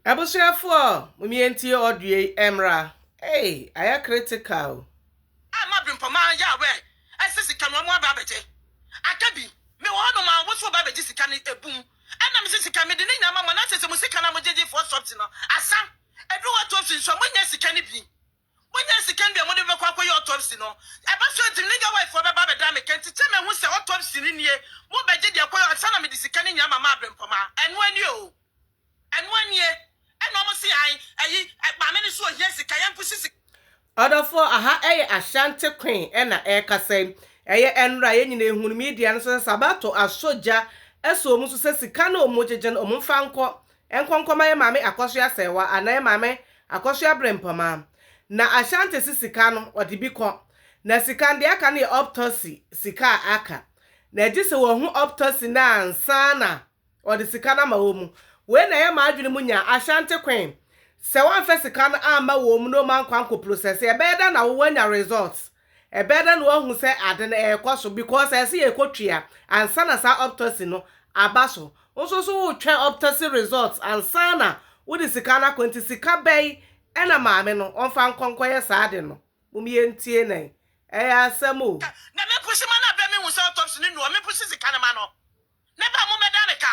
Abusuafoɔ mo mie ntie audio yi ɛmmra ei ayɛ critical o. Ama brimpɔma yɛ aware ɛsɛ sika no ɔmo aba abɛgye aka bi me wɔ hɔ nom a woso ɔba abɛgye sika no ebum ɛna mese sika mede ne nyinaa ma mo na sese mo sika no a mo gyegye foɔ subs no asa ɛduru hɔ tofi nso a mo nnya sika no bi. Monya sika nwie a mode bɛkɔ akɔyɛ autopsy no? Ɛba so a enti legal wife foɔ bɛba abɛda me ka nti kyɛ mahu sɛ autopsy no nie mo bɛgye deɛ ɛkɔyɛ ansa na mede sika no nyinaa mama abrempɔmaa ɛnoa nie oo ɛnoa nie ɛna ɔmo se ae ayi maame no so ohia sika yɛnko si sika Ɔdɔfoɔ, aha yɛ Ashanti Queen na ɛrekasa yi. Ɛyɛ ɛnora a yɛn nyinaa ɛhunu media no so sɛ Sabato asɔ gya asɔ ɔmu so sɛ sika no a ɔmu gyegye no ɔmu mfa nkɔ Ɛnkɔnkɔma yɛn maame akɔsoa sɛɛwa anaa yɛn maame akɔsoa berempɔma. Na Ashanti se sika no, wɔde bi kɔ. Na sika no, deɛ aka no yɛ optosi, sika a aka. Na ɛgye sɛ wɔhu optosi no ansa na wɔde sika no ama wɔn. Wei na ɛyɛ m'adwene mu nya, Ashanti Queen. Sɛ wɔamfa sika no amma wɔn na wɔankɔ ankɔprosɛse, ɛbɛyɛ dɛn na wo woanya results? Ɛbɛyɛ dɛn na woahu sɛ ade no rekɔ so? Because ɛsɛ sɛ yɛkɔ twea ansa na saa optasy no aba so. Wo nso so wotwɛn optasy results ansa na wode sika no akɔ. Nti sika bɛn na maame no ɔmfa nkɔ nkɔyɛ saa ade no? Mom yɛntie no ɛ. Ɛyɛ asɛm o. Na me pusi ma no abɛ me hu sɛ autopsy no nni hɔ me pusi sika no ma no ne ba mo bɛda ne ka.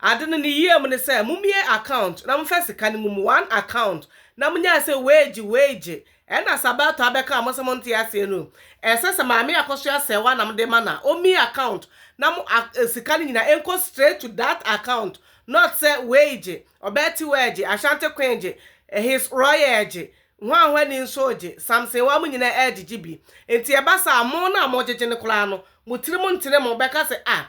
Ade no ne yie mu ne sɛ momie account na momfa sika no mum one account na monyae sɛ wage wage ɛna sa bɛtɔ abɛka a mo sɛ monte aseɛ no ɛsɛ sɛ maame akɔso asɛɛwa na mode ma na ɔmie account na mo a sika no nyina ɛnkɔ straight to that account not sɛ wage ɔbaa tiwage Ashanti queen gye his royal gye hwanhwa ni nso gye Samson wa mo nyina ɛgyegye bi nti ɛba saa mo no a mogyegye no koraa no mo tiri mu ntene mo bɛka sɛ ah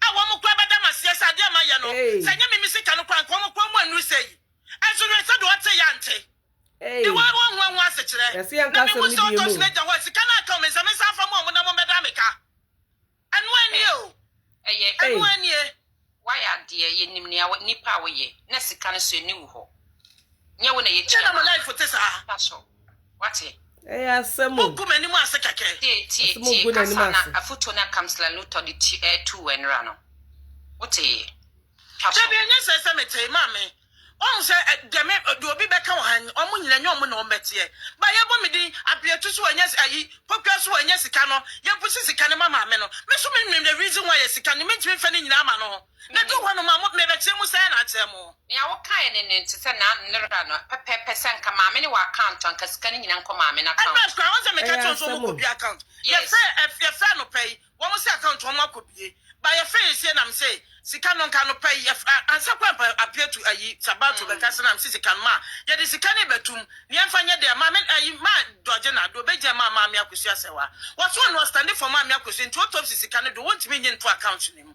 a wɔn koraa bɛda me aseɛ sɛ adeɛ a mayɛ no, sɛ ɛnyɛ me me sika no koraa a, anka wɔn koraa mu annuru sɛi. Nso hwɛ sɛdeɛ ɔtee yɛ ante, de wɔn ho wɔn ho ase kyerɛ. Na mehu sɛ ɔtɔ sin agya hɔ a, sika no anka me nsam, nsan mfa mmoa wɔn na wɔmmɛda me ka. Ɛno ara nie o. Ɛyɛ. Ɛno ara nie. Woayɛ adeɛ, yɛnim nea wo, nipa a woyɛ, na sika no nso, ɛnni wo hɔ. Nyɛ wo na yɛtua no. Deɛ na mo life te saa? Mpakyɛw. Wate? Ɛyɛ asɛm o. Mogu m'anim ase kɛkɛ. Tie, tie, tie kasa na afotuo na Councillor Luther de ti ɛɛ tuu w'anura no. Wotee? Twa so. Dabi ɛnyɛ sɛ sɛ metee maame wahu sɛ deɛ me deɛ obi bɛka wɔ ha nyi wɔn nyina nyɛ wɔn na wɔn bɛteɛ ba yɛbɔ me din abiatu so ɛnyɛ ayi pokuya so ɛnyɛ sika no yɛbusi sika no ma maame no me so me nim the reason why yɛ sika no mentumi mfa ne nyinaa ma no ho Medu hɔ no ma mo, merekyerɛ mo sɛ na akyerɛ mo. Nea wokae no ne te sɛ na nnera no pɛpɛɛpɛ sɛ nka maame ne wɔ account a nka sika no nyina nkɔ maame no account. Ɛbɛs koraa wɔn sɛ meka kyerɛ wɔn sɛ wɔn kɔ bue account yɛfɛ yɛfɛ anɔpa yi wɔn se account wɔn akɔ bue ba yɛfɛ yɛ sie nam se sika no nka anɔpa yi yɛfɛ ansa kɔ anpa appear to ayi sabato bɛka se nam se sika no maa yɛde sika no bɛtum nea ɛmfa nyɛ dea maame ayi maa dɔgye na do bɛgyina maa maame akosua sɛ wa wɔso wɔn no ɔstande for maame akosua nti autopsy sika no do wɔntumi nye nto account no mu.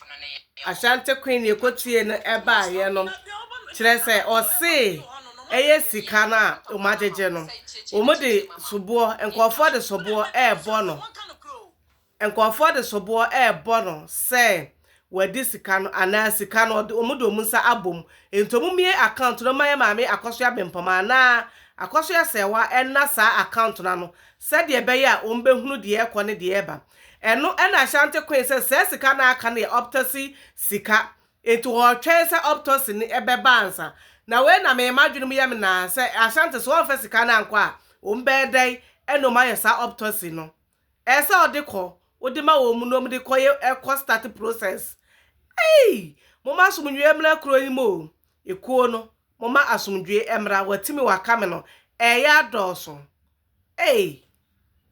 Ashanti Queen ne ɛkɔtiee no baeɛ no, kyerɛ sɛ ɔsee ɛyɛ sika no a wɔn agyegye no, wɔn de soboɔ, nkurɔfoɔ de soboɔ ɛrebɔ no, nkurɔfoɔ de soboɔ ɛrebɔ no sɛ wɔadi sika no anaa sika no wɔde wɔn nsa abɔ mu, nti wɔn mmie account no ma yɛ maame Akɔso Abempɔma anaa Akɔso Asɛɛwa ɛnna saa account no ano sɛdeɛ ɛbɛyɛ a wɔbɛhunu deɛ ɛrekɔ ne deɛ ɛreba. Ɛno na Ashanti koe sɛ saa sika no a aka no yɛ optosi sika, enti wɔretwɛn sɛ optosi no bɛba ansa. Na wei na me m'adwene mu yɛ me naa sɛ Ashanti sɛ wɔamfa sika no ankɔ a, wɔbɛyɛ dɛn na wɔayɛ saa optosi no? Ɛyɛ sɛ wɔde kɔ, wode ma wɔn na wɔde kɔ yɛ ɛkɔ start process. Ei! Momma asomdwoeɛ mmra kuro yi mu o! Ekuo no, momma asomdwoeɛ mmra, Watimi Wakame no, ɛreyɛ adɔɔso. Ei!